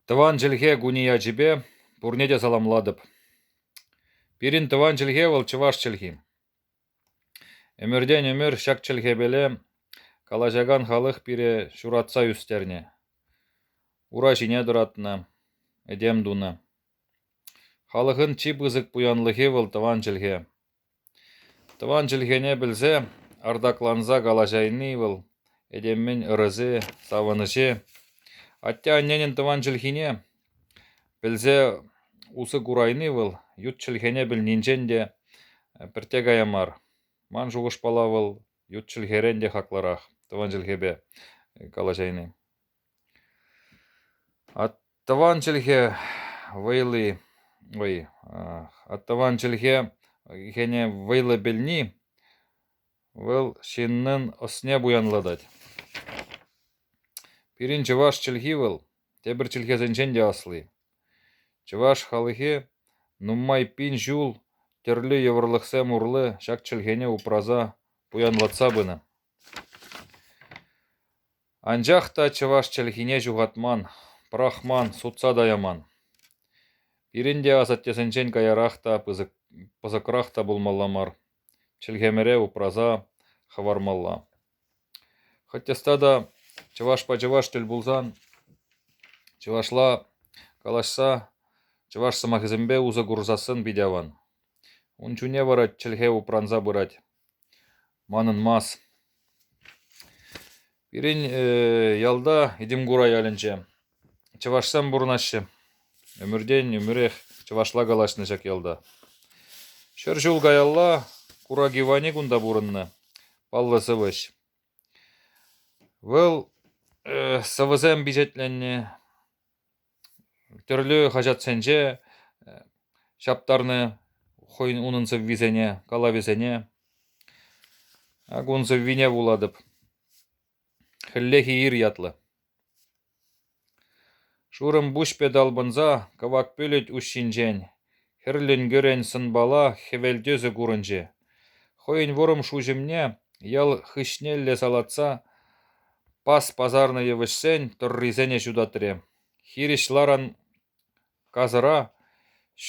Тӑван чӗлхе кунӗ ячӗпе пурне те саламлатӑп. Пирӗн тӑван чӗлхе вӑл чӑваш чӗлхи. Ӗмӗртен ӗмӗр ҫак чӗлхепеле калаҫакан халӑх пире ҫуратса ӳстернӗ. Ура ҫине тӑратнӑ, этем тунӑ. Халӑхӑн чи пысӑк пуянлӑхӗ вӑл тӑван чӗлхе. Тӑван чӗлхене пӗлсе артакланса калаҫайни вӑл этеммен ырӑсе, савӑнӑҫе, атте-анненӗн тӑван чӗлхине пӗлсе усӑ курайни вӑл ют чӗлхене пӗлнинчен те пӗртте кая мар. Ман шухӑшпала вӑл ют чӗлхерен те хаклӑрах тӑван чӗлхепе калаҫайни. Тӑван чӗлхе вӑйли, ой, тӑван чӗлхе хӗне вӑйлӑ пӗлни вӑл ҫыннӑн ӑсне пуянлатать. Пирӗн чӑваш чӗлхи вӑл тепӗр чӗлхесенчен те асли. Чӑваш халӑхӗ нумай пин ҫул тӗрлӗ йывӑрлӑхсем урлӑ ҫак чӗлхене упраса, пуянлатса пынӑ. Анчах та чӑваш чӗлхине ҫухатман, пӑрахман, сутса та яман. Пирӗн те асаттесенчен каярах та пысӑк, пысӑкрах та пулмалла мар, чӗлхемӗре упраса хӑвармалла. Хӑть ӑста та чӑвашпа чӑваш тӗл пулсан, чӑвашла калаҫса, чӑваш сӑмахӗсемпе усӑ курсассӑн питӗ аван. Ун чунне вара чӗлхе упранса пырать. Манӑнмас. Пирӗн ялта Этӗмкура ялӗнче чӑвашсем пурӑнаҫҫӗ. Ӗмӗртен ӗмӗрех чӑвашла калаҫнӑ ҫак ялта. Ҫӗр ҫул каялла Кураги Вани кунта пурӑннӑ, паллӑ сӑвӑҫ. Вӑл сӑвӑсем пичетленнӗ, Тӗрлӗ хаҫатсенче ҫаптарнӑ хӑйӗн унӑн сӑввисене, калавӗсене. Ак ун сӑввине вулатӑп. «Хӗллехи ир» ятлӑ. Шурӑм пуҫпе талпӑнса кӑвак пӳлӗт уҫҫинчен Хӗрленкӗрен сӑнпала хӗвел тӗсӗ курӑнчӗ. Хӑйӗн вӑрӑм шуҫӑмне ял хыҫнелле салатса пас пасарнӑ йывӑҫсен тӑррисене ҫутатрӗ. Хирӗҫ ларан касӑра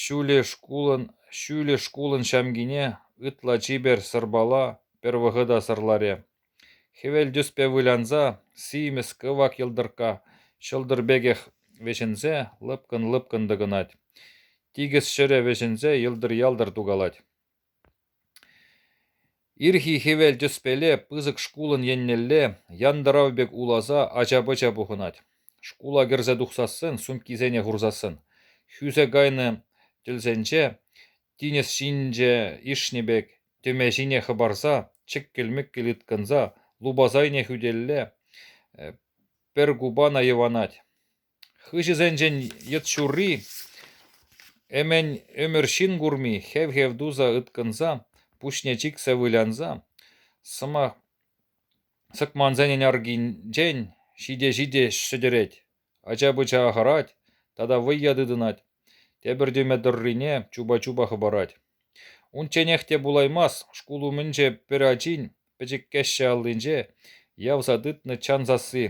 ҫӳллӗ шкулӑн ҫамкине ытла чипер сӑрпала пӗр вӑхӑта сӑрларӗ. Хӗвел тӗспе вылянса симӗс кӑвак йӑлтӑркка ҫӑлтӑр пекех вӗҫӗнсе лӑпкӑн-лӑпкӑн тӑкӑнать. Тикӗс ҫӗрӗ вӗҫӗнсе йӑлтӑр-ялтӑр тукалать. Ирхи хӗвел тӗспеле пысӑк шкулӑн еннелле янтӑрав пек уласа ача-пӑча пухӑнать. Шкула кӗрсе тухсассӑн, сумкисене хурсассӑн, хӳсе кайнӑ тӗлсенче тинӗс ҫинче ишнӗ пек тӗме ҫине хӑпарса, чӗккӗл-мӗккӗл ыткӑнса, лупас айне хӳтӗлле пӗр купана йӑванать. Хыҫӗсенчен йӑт ҫурри, ӗмӗн ӗмӗр ҫын курми хев-хев туса ыткӑнса, пуҫне чиксе вылянса, сӑмах сӑкмансенӗн аркинчен ҫите-ҫите шӗтӗрет. Ача-пӑча хӑрать тата вӑййа тытӑнать, тепӗр тӗме тӑррине чупа-чупа хӑпарать. Унчченех те пулаймасть шкул умӗнче пӗр ачин пӗчӗккӗҫҫӗ аллинче явса тытнӑ чан сасси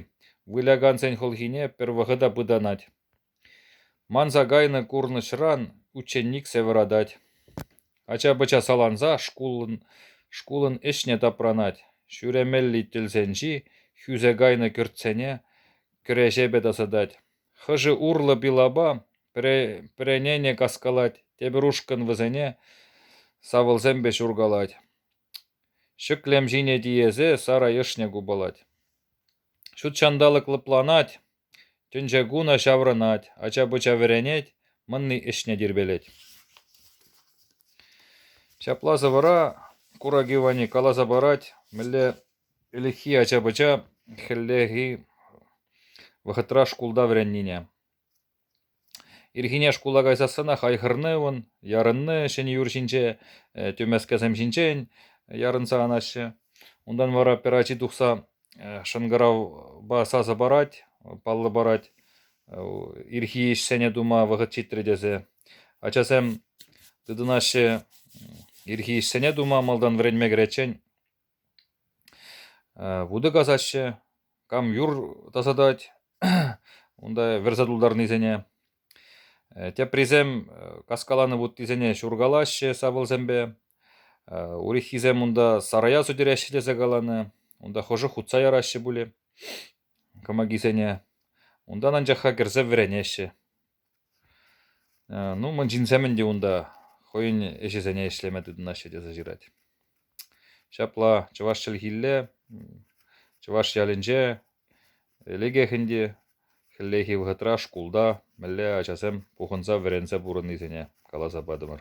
вылякансен хӑлхине пӗр вӑхӑта пытанать. Манса кайнӑ курнӑҫран ученик сӗвӗратать. Ача-пӑча саланса шкулӑн, шкулӑн ӗҫне тапранать. Ҫӳремелли тӗлсенчи хӳсе кайнӑ кӗртсене Кӗреҫепе тасатать. Хӑшӗ урлӑ пилапа пӗренене каскалать, тепӗр ушкӑн вӗсене савӑлсемпе ҫуркалать. Ҫӗклем ҫине тиесе сарӑ ӑшне купалать. Ҫут ҫанталӑк лӑпланать, тӗнче кунӗ ҫаврӑнать, ача-пӑча вӗренет, мӑнни ӗҫне тирпейлет. Ҫапла сӑвӑра Кураги Вани каласа парать, мӗнле Ӗлӗкхи ача-пӑча хӗллехи вӑхӑтра шкулта вӗреннине, ирхине шкула кайсассӑнах айхӑрнӑвӑн, ярӑннӑ ҫӗнӗ-юр ҫинче тӗмескесем ҫинчен ярӑнса анаҫҫӗ. Унтан вара пӗр ачи тухса шӑнкӑравпа сасӑ парать, паллӑ парать ирхи ӗҫсене тума вӑхӑт ҫитрӗ тесе. Ачасем тытӑнаҫҫӗ ирхи ӗҫсене тума малтан вӗренме кӗриччен. Вутӑ касаҫҫӗ, кам юр тасатать унта вӗрсе тултарнисене. Теприсем каскаланӑ вуттисене ҫуркалаҫҫӗ савӑлсемпе. Урӑххисем унта сарая сӳтереҫҫӗ тесе каланӑ. Унта хӑшӗ хутса яраҫҫӗ пулӗ кӑмакисене. Унтан анчах-ха кӗрсе вӗренеҫҫӗ. Ну, мӑн ҫынсемӗн те унта хӑйӗн ӗҫӗсене ӗҫлеме тытӑнаҫҫӗ тесе ҫырать. Ҫапла чӑваш чӗлхилле чӑваш ялӗнче лекех ӗнтӗ хӗллехи вӑхӑтра шкулта мӗнле ачасем пухӑнса вӗренсе пурӑннисене каласа патӑмӑр.